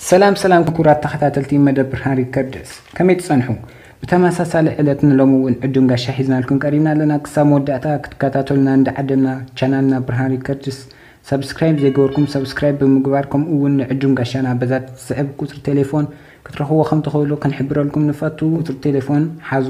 ሰላም ሰላም ክቡራት ተኸታተልቲ መደብ ብርሃን ሪከርድስ ከመይ ትጸንሑ? ብተመሳሳሊ ዕለት ንሎሚ እውን ዕዱም ጋሻ ሒዝናልኩም ቀሪብና ኣለና። ክሳብ መወዳእታ ክትከታተሉና እንዳዓደምና ቻናልና ብርሃን ሪከርድስ ሰብስክራይብ ዘይገበርኩም ሰብስክራይብ ብምግባር ከምኡ እውን ንዕዱም ጋሻና በዛ ትስዕብ ቁጽሪ ቴሌፎን ክትረኽብዎ ከም ትኽእሉ ክንሕብረልኩም ንፈቱ። ቁጽሪ ቴሌፎን ሓዙ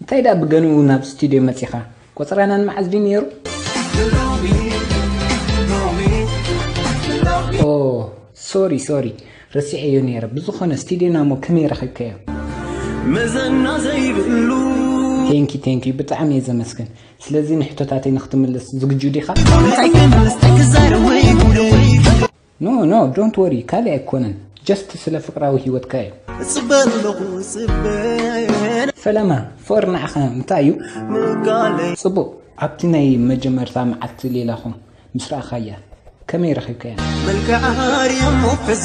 እንታይ ድኣ ብገንኡ ናብ ስቱድዮ መጺኻ? ቆጸራናን መዓዝ ድዩ ኔሩ? ኦህ ሶሪ ሶሪ ረሲዐዮ ኔረ ብዝኾነ ስቱድዮና እሞ ከመይ ረኺብካዮ? መዘና ዘይብሉ ቴንኪ ቴንኪ ብጣዕሚ እየ ዘመስግን ስለዚ ንሕቶታተይ ንክትምልስ ዝግጁ ዲኻ? እንታይ ክምልስ እንታይ ክዛረብ ወይ ጉደይ No no don't worry ካሊእ ኣይኮነን just ስለ ፍቅራዊ ሂወትካ እዩ። እጽበ ኣለኹ እጽበ ሰላማ ፍቅሪ ንዓኻ እንታይ እዩ? ምቃለይ ጽቡቅ ኣብቲ ናይ መጀመርታ መዓልቲ ሌላኹም ምስ ረኣኻያ ከመይ ረኺብካያ? መልክዓ ኣርየሞ ሕዚ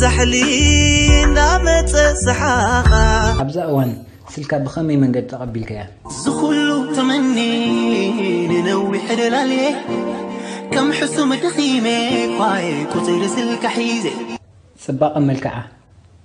ዛሕሊ እንዳመፀ ሰሓቓ ኣብዛ እዋን ስልካ ብኸመይ መንገዲ ተቐቢልካያ? ዝኹሉ ተመኒ ንነዊሕ ደላልየ ከም ሕሱም ደኺሜ ኳየ ቁፅሪ ስልካ ሒዘ ፅባቐ መልክዓ፣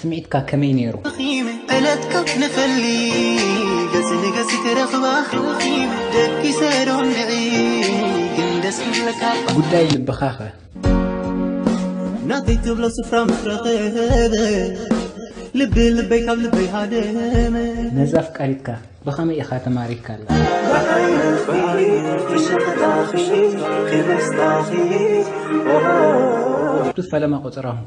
ስምዒትካ ከመይ ነይሩ? ዕለትካ ንፈሊ ገጽ ንገጽ ክረኽባ ደቂሰ ዶ ንዒ ግን ደስ ክብለካ ጉዳይ ልብኻኸ? ናተይ ትብሎ ስፍራ ምስ ረኸበ ልቢ ልበይ ካብ ልበይ ሃደመ ነዛ ኣፍቃሪትካ ብኸመይ ኢኻ ተማሪካላ? ኣብቲ ፈለማ ቆጸራኹም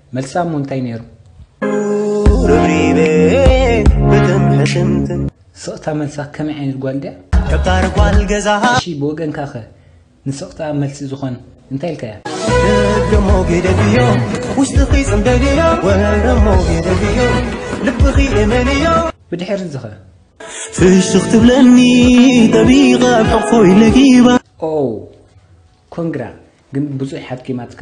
መልሳ እሞ እንታይ ነይሩ? ስቕታ መልሳ ከመይ ዓይነት ጓል ድያ? ገባር ጓል ገዛ እሺ ብወገንካ ከ ንስቕታ መልሲ ዝኾን እንታይ ኢልካያ? ደሞ ገደብዮ ውሽጥኺ ጽምደልዮ ወረሞ ገደብዮ ልብኺ እመንዮ ብድሕሪ እዚ ኸ ፍሽኽ ትብለኒ ጠቢቐ ኣብ ሕቑፎይ ለጊባ ኦ ኮንግራ ግን ብዙሕ ሓኪማትካ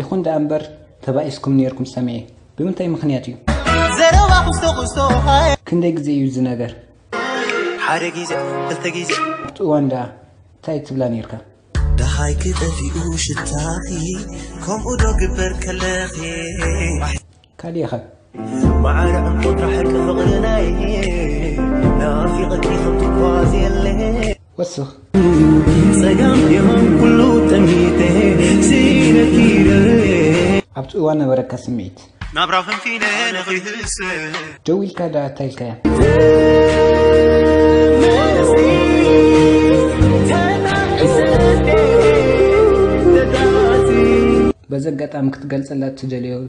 ይኹን ደኣ እምበር ተባኢስኩም ኔርኩም ሰሚዔ ብምንታይ ምኽንያት እዩ? ዘረባ ኩስቶ ኩስቶ ሃየ። ክንደይ ግዜ እዩ እዚ ነገር? ሓደ ግዜ ክልተ ግዜ። ኣብቲ እዋን ደኣ እንታይ ትብላ ኔርካ? ደሃይኪ ጠፊኡ ሽታኺ ከምኡ ዶ ግበር ከለኺ። ካሊእኸ? ማዓረ ዕንቁ ጥራሕ ሕርቂ ፍቅሪ ናይ ናፊቀኪ ከም ትጓዝ የለ ወስኽ። ጸጋም የማን ኩሉ ጠሚተ ሲኢነኪ ደርበየ ኣብቲ እዋን ነበረካ ስምዒት? ናብራ ፈንፊነ ንክይህሰ ደው ኢልካ ደኣ ታይ ኢልካያ? በዚ ኣጋጣሚ ክትገልጸላ እትደልዮ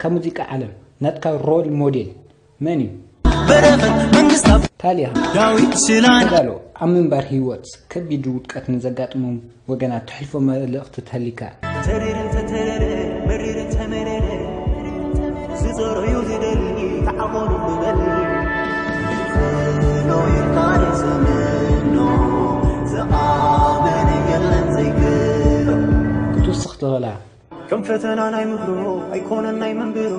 ካብ ሙዚቃ ዓለም ናትካ ሮል ሞዴል መን እዩ? በረኸት መንግስታብ ታሊያ ዳዊት ሽላን ተጋሎ ኣብ ምንባር ህይወት ከቢድ ውድቀት ንዘጋጥሞም ወገናት ተሕልፎ መልእኽቲ ተሊካ። ተሪር እንተተረረ መሪር እንተመረረ ዝዘረዩ ዝደሊ ተዓቆኑ ንበል ይኽእሎ ይካረ ዘመኖ ዝኣመነ የለን ዘይክእሎ ክትውስኽ ትኽእላ ከም ፈተና ናይ ምድሮ ኣይኮነን ናይ መንብሮ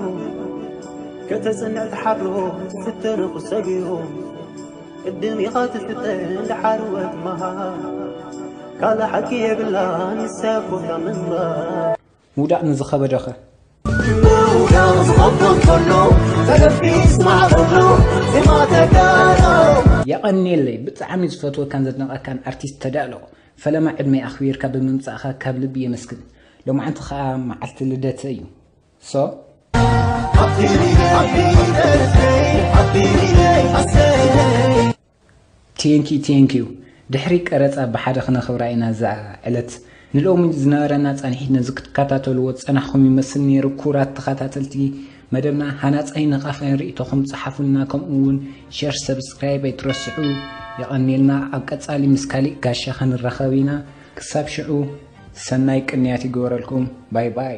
ከተጽንዕ ተሓድሮ ትፍተን ቁሰብዮ ቅድም ኢኻ ትፍተን ድሓርወ ትመሃር ካልእ ሓቂ የብላ ንስያ ኮታ ምንባር ምውዳቕ ንዝኸበደኸ ምውዳቕ ዝኸቦ እንከሎ ተገፊ ስማዕ ከሎ ዜማ ተጋሩ የቐኔለይ ብጣዕሚ ዝፈትወካን ዘድንቐካን ኣርቲስት ተዳእሎ ፈለማ ዕድመይ ኣኽቢርካ ብምምጻእኻ ካብ ልቢ የመስግን ሎማዓንቲ ከኣ መዓልቲ ልደተይ እዩ so ቴንኪ ቴንኪዩ ድሕሪ ቀረፃ ብሓደ ክነኽብራ ኢና እዛ ዕለት ንሎሚ ዝነበረና ፃንሒት ነዚ ክትከታተልዎ ዝፀናሕኩም ይመስል ነይሩ ኩራት ተኸታተልቲ መደብና ሃናጻይ ነቓፋይን ርኢቶኹም ጸሓፉልና ከምኡ ውን ሸር ሰብስክራይብ ኣይትረስዑ የቐንየልና ኣብ ቀጻሊ ምስ ካሊእ ጋሻ ክንራኸብ ኢና ክሳብ ሽዑ ሰናይ ቅንያት ይግበረልኩም ባይ ባይ